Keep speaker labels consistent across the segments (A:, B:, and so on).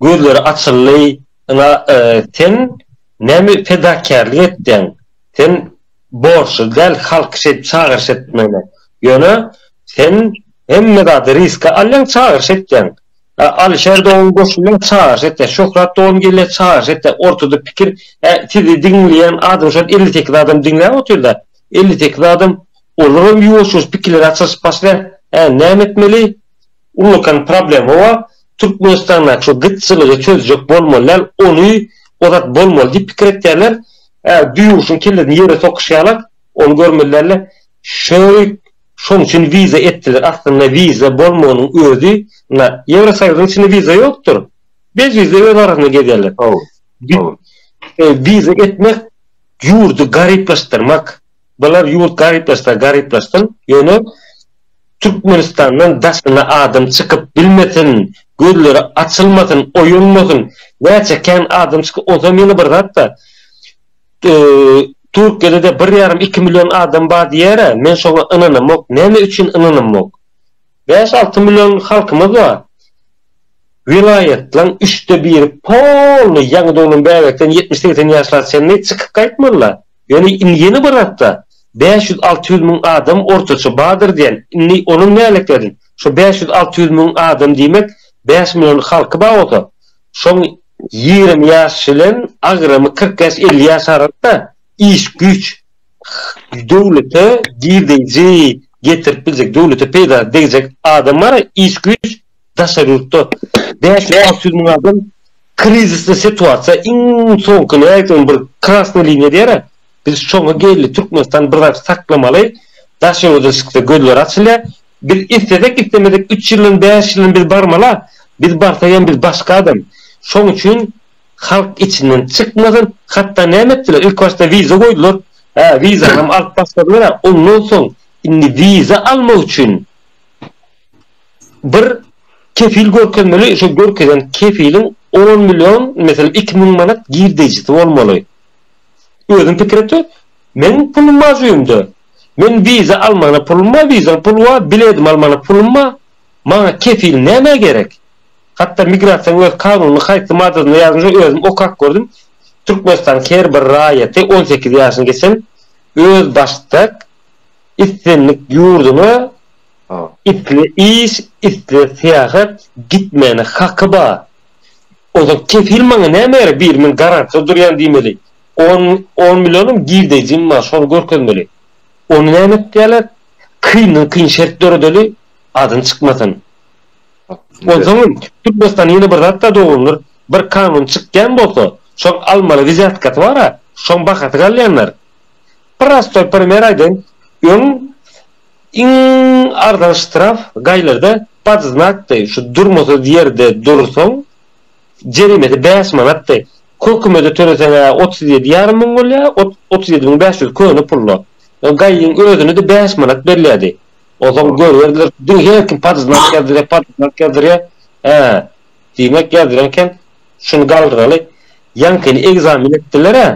A: Gözleri açyldy, Ynha, sen näme fedakärlik etdiň? Sen borçly däl halky şeýdip çagyryş etmäne. Ýöne, sen hemme zady riske alýaň, çagyryş etýäň. Alyşer dogan goşulýar, çagyryş etýär. Şöhrat dogan gelýär, çagyryş etýär. Ortada pikir, hä, sizi diňleýän adam şol elli sekiz adam diňläp otyr-da. Elli sekiz adam, olaram ýuwaş-ýuwaş pikirleri açylyşyp başlaýar. Hä, näme etmeli? Ullakan problema bar, Türkmenistandaky şu gytçylygy çözjek bolmaly däl, ony ozat bolmaly diýip pikir etýärler, hä düýeguşyň kellesini ýere sokyşýarlar, ony görmeli däller. Şerik şoň üçin wiza etdiler, aslynda wiza bolmagynyň özi, na Ýewrosoýuzyň içinde wiza ýokdur, bez wiza öz arasynda gezýärler. Wiza etmek ýurdy garyplaşdyrmak. Bular ýurt garyplaşsa garyplaşsyn, ýöne Türkmenistandan daşyna adam çykyp bilmesin, gözleri açylmasyn, oýanmasyn. Näçe kän adam çykyp, onsam ýene bir zat-da, Türkiýede-de bir ýarym, iki million adam bar diýer-ä, men şoňa ynanamok. Näme üçin ynanamok? Bäş-alty million halkymyz bar. Welaýatlaryň üçde biri polny ýaňy doglan bäbekden ýetmiş-segsen ýaşlara çenli çykyp gaýtmalylar. Ýöne indi ýene bir atda bäş ýüz-alty ýüz müň adam ortaça bardyr diýen. Indi onuň nälekleriň? Şu bäş ýüz-alty ýüz müň adam diýmek bäş million halky bar bolsa, şoň ýigrimi ýaş bilen agramy kyrk ýaş-elli ýaş arasynda iş, güýç. döwlete girdeji getirip biljek, döwlete peýda degjek adamlar, iş güýç daşary ýurtda. Bäş ýüz, alty ýüz müň adam krizisli situasiýa, iň soňky nätdigiň bir krasnyý liniýa diýerä. Biz şoňa geldi, Türkmenistan bir zat saklamaly, daşary ýurda çyksa gözleri açylýar. Biz islesek islemesek üç ýyldan, bäş ýyldan biz barmala, biz barsak hem biz başga adam. Şoň üçin halk içinden çykmasyn hatda näme etdiler ilk başda wiza goýdular hä wizanam alyp başladylar ondan soň indi wiza almak üçin bir kefil görkezmeli şo görkezen kefiliň on million meselem iki müň manat girdejisi bolmaly özüm pikir etdim meň pulum bar jübimde men wiza almana pulum bar wiza pul bar biledim almana pulum bar maňa kefil näme gerek. Hatda migrasiýaň öz kanunynyň haýsy maddasynda ýazylmyşa özüm okap gördüm, Türkmenistanyň her bir raýaty on sekiz ýaşyny geçen özbaşdak islendik ýurduna isle iş, isle syýahat gitmäne haky bar. Ozal kefil maňa näme gerek bir men garantda durýan diýmeli. On on millionam girdejim bar şony görkezmeli. Ony näme etýärler? Kyndan kyn şert döredeli adyny çykmasyn. Onsoňam Türkmenistan ýene bir zatda dogrudyr, bir kanun çykýan bolsa, şoň almaly wizýatkasy bar-a, şoň bahasy galýandyr. Prostoý primer aýdaýyn, öň iň arzan ştraf gaýlarda pod znakdy, şu durmasyz ýerde dursaň, jerimesi bäş manatdy. Kökümede töleseň-ä otuz ýedi ýarym müň bolýar, otuz ýedi müň bäş ýüz köne pul-la. Gaýyň özüne-de bäş manat berilýärdi. Ozal görerler diňe her kim padyznak ýazdyrýar padyznak ýazdyrýar hä diýmek ýazdyrýan eken şuny galdyraly ýaňkyny ekzamen etdilerä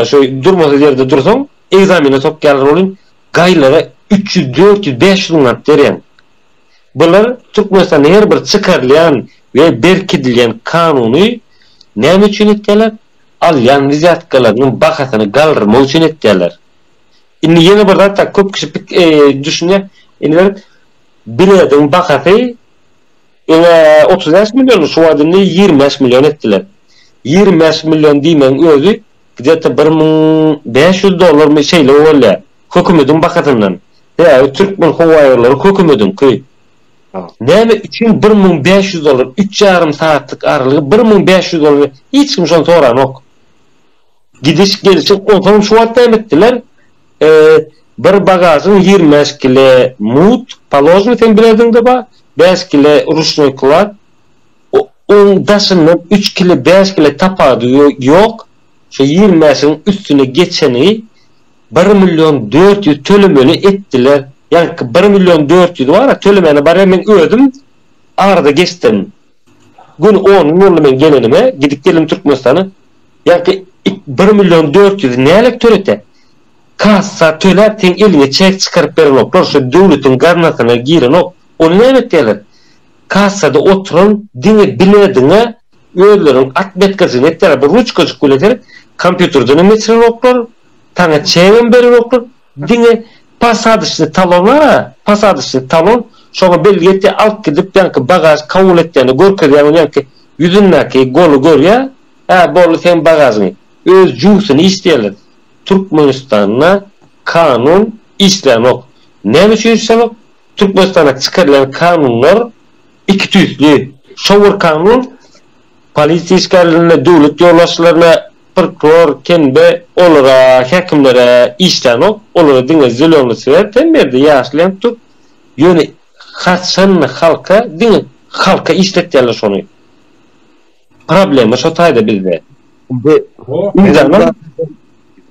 A: şu durmasyz ýerde dursaň ekzamene sokýarlar welin gaýlara üç ýüz dört ýüz bäş ýüz manat berýäň bular türkmenistanda her bir çykarylýan we berkidilýän kanuny näme üçin etýärler alýan wizýatkalarynyň bahasyny galdyrmak üçin etýärler. Indi ýene bir zat köp kişi düşünýär. Indi bir bilediň bahasy öňe otuz bäş million şu wagt indi ýigrimi bäş million etdiler. Ýigrimi bäş million diýmegiň özi gdeta bir müň bäş ýüz dollarmy şeýle bolýar. Hökümediň bahasyndan. Sebäbi Türkmen howaýollary hökümediňki. Näme üçin bir müň bäş ýüz dollar üç ýarym sagatlyk aralygy bir müň bäş ýüz dollar hiç kim şony soranok. Gidiş gelşik onsoň şu wagt näme etdiler bir bagažyň ýigrimi bäş kile mut položny sen bileziňde bar bäş kile ruşnoý klad oň daşyndan üç kile bäş kile tapady ýok şo ýigrimi bäşiň üstüne geçeni bir million dört ýüz tölemeli etdiler ýaňky bir million dört ýüz bara tölemäne barýan men özüm arada geçdim. Gün on gün boldy men gelenime, gidip geldim Türkmenistana. Ýaňky ik bir million dört ýüzi nälet törete? Kassa töläp seň eliňe çek çykaryp berenoklar, şo döwletiň gaznasyna girenok. Ony näme etýärler? Kassada oturan diňe bilediňe özleriniň atmetkasyny etýärler, bir ruçkajyk bilen seni kompýuterdenem geçirenoklar, saňa çegem berenoklar. Diňe posadyçny talona, posadyçny talon, şoňa bileti alyp gidip ýaňky bagaž kabul etýände görkezýäň ony ýaňky ýüzündäki goly görýä, hä boldy seň bagažyň, öz juwsyny işleýäler, Türkmenistanda kanun işlänok, näme üçin işlänok, Türkmenistanda çykarylýan kanunlar iki tüýsli, şo bir kanun, Polisiýa işgärlerine, döwlet ýolbaşçylaryna prokuror, kemde, olara, häkimlere işdänok. Olara diňe zeleny swer, sen berde ýaşyl ýanyp dur. Ýöne haçan halka, diňe halka işletýärler şony. Problema şo taýda bizde. Indi Mydama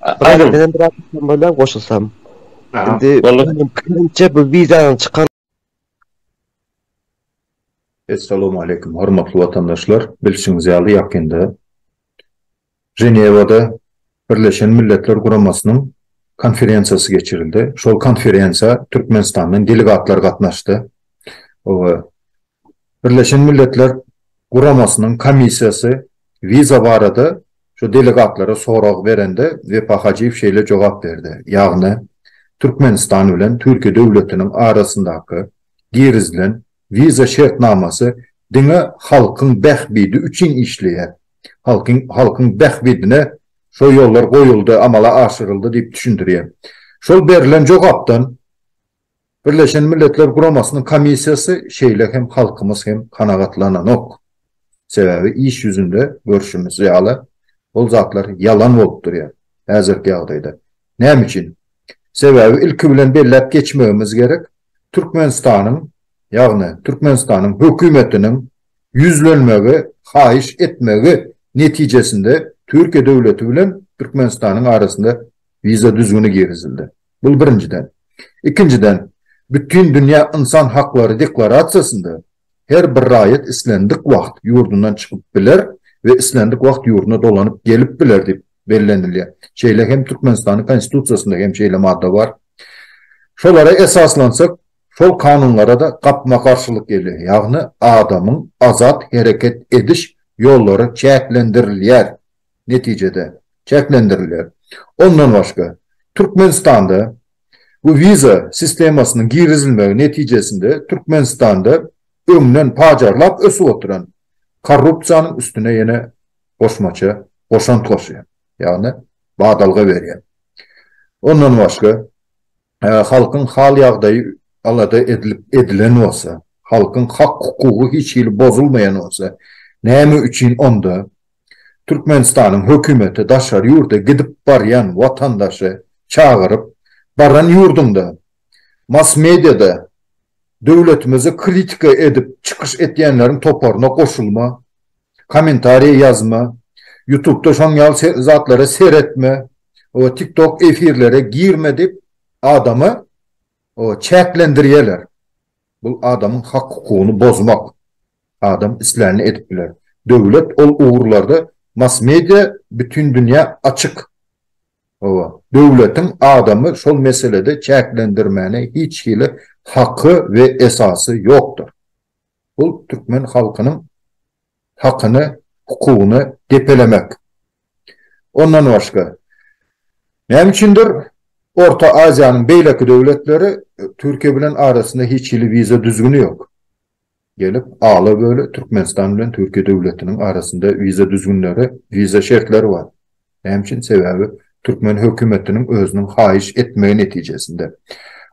B: Aýdyň. Menden biraz goşulsam. Indi, meniň pikirimçe, bu wizanyň çykan.
C: Essalamu aleýkum, hormatly watandaşlar! Bilşiňiz ýaly, ýakynda Ženewada Birleşen Milletler Guramasynyň konferensiýasy geçirildi. Şol konferensiýa Türkmenistandan delegatlar gatnaşdy. Birleşen Milletler Guramasynyň komissiýasy wiza barada şu delegatlara sorag berende Wepa Hajyýew şeýle jogap berdi, ýagny Türkmenistan bilen Türkiýe döwletiniň arasyndaky girizilen wiza şertnamasy diňe halkyň bähbidi üçin işleýär, halkyň halkyň bähbidine şo ýollar goýuldy, amala aşyryldy diýip düşündirýär. Şol berlen jogapdan Birleşen Milletler Guramasynyň komissiýasy şeýle hem halkymyz hem kanagatlananok. Sebäbi iş ýüzünde görşümiz ýaly, ol zatlar ýalan bolup durýar häzirki ýagdaýda. Näme üçin? Sebäbi ilki bilen belläp geçmegimiz gerek, Türkmenistanyň, ýagny Türkmenistanyň hökümetiniň ýüzlenmegi, haýyş etmegi netijesinde Türkiýe döwleti bilen Türkmenistanyň arasynda wiza düzgüni girizildi. Bu birinjiden. Ikinjiden, Bütindünýä ynsan haklary deklarasiýasynda her bir raýat islendik wagt ýurdundan çykyp biler we islendik wagt ýurduna dolanyp gelip biler diýip bellenilýär. Şeýle hem Türkmenistanyň Konstitusiýasynda hem şeýle madda bar. Şolara esaslansak, şol kanunlara-da gapma-garşylyk gelýär. Ýagny adamyň azat hereket ediş ýollary çäklendirilýär. netijede, çäklendirilýär. Ondan başga, Türkmenistanda bu wiza sistemasynyň girizilmegi netijesinde Türkmenistanda öňden pajarlap ösüp oturan korrupsiýanyň üstüne ýene goşmaça goşant goşýar, ýagny badalga berýär. Ondan başga, halkyň hal-ýagdaýy alada edilip edilen bolsa, halkyň hak-hukugy hiç hili bozulmaýan bolsa, näme üçin onda Türkmenistanyň hökümeti daşary ýurda gidip barýan watandaşy çagyryp, baran ýurduňda mass-mediada döwletimizi kritika edip çykyş etýänleriň toparyna goşulma, Kommentariýa ýazma, ýutubda şoň ýaly zatlara seretme, o tiktok efirlere girme diýip adamy o çäklendirýeler. Bul adamyň hak hukugyny bozmak. Adam islänini edip biler. Döwlet ol ugurlarda massmedia bütin dünýä açyk. Hawa, döwletiň adamy şol meselede çäklendirmäne hiç hili haky we esasy ýokdur. Bu türkmen halkynyň hakyny, hukugyny depelemek. Ondan başga, näme üçindir, Orta Aziýanyň beýleki döwletleri Türkiýe bilen arasynda hiç hili wiza düzgüni ýok. Gelip, ala-böle Türkmenistan bilen Türkiýe döwletiniň arasynda wiza düzgünleri, wiza şertleri bar. Näme üçin? Sebäbi türkmen hökümetiniň özüniň haýyş etmegi netijesinde.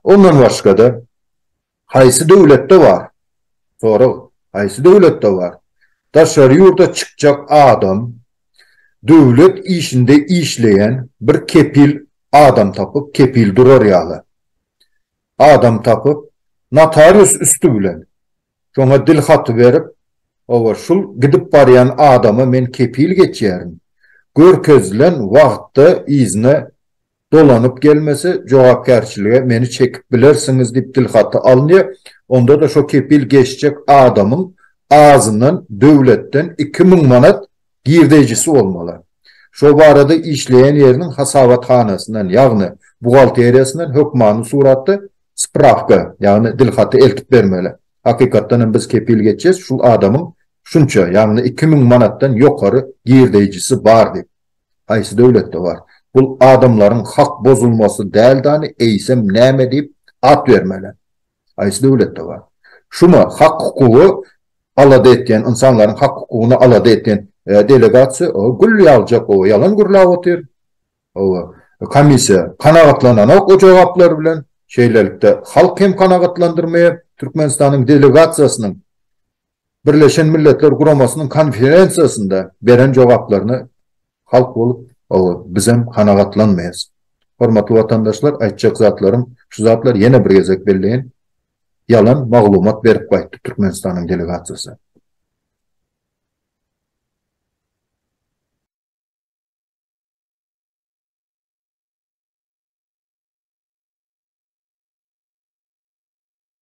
C: Ondan başga-da, Haýsy döwletde bar? Sorag, Haýsy döwletde bar? Daşary ýurda çykjak adam döwlet işinde işleýän bir kepil adam tapyp, kepil durar ýaly adam tapyp, notarius üsti bilen şoňa dil haty berip, Hawa, şul gidip barýan adama men kepil geçýärin, görkezilen wagtda yzyna Dolanyp gelmese, jogapkärçilige meni çekip bilersiňiz diýip dilhaty alynýar, onda-da şo kepil geçjek adamyň azyndan döwletden iki müň manat girdeýjisi bolmaly. Şo barada işleýän ýeriniň hasabathanasyndan, ýagny buhgalteriýasyndan hökmany suratda sprawka, ýagny dilhaty eltip bermeli. Hakykatdan hem biz kepil geçýäs, şul adamyň şunça, ýagny iki müň manatdan ýokary girdeýjisi bar diýip. Haýsy döwletde bar? Bul adamlaryň hak bozulmasy däldani eýsem näme diýip at bermeli? Haýsy döwletde bar? Şuma hak hukugy alada etýän ynsanlaryň hak hukugyny alada etýän delegasiýa oba gül ýagjak oba ýalan gürläp otyr. Oba komissiýa kanagatlananok o jogaplar bilen. Şeýlelikde halk hem kanagatlandyrmaýar Türkmenistanyň delegasiýasynyň Birleşen Milletler Guramasynyň konferensiýasynda beren jogaplaryna halk bolup bizem kanagatlanmaýas. Hormatly watandaşlar, aýtjak zatlarym şu zatlar ýene bir gezek belleýin, ýalan maglumat berip gaýtdy Türkmenistanyň delegasiýasy.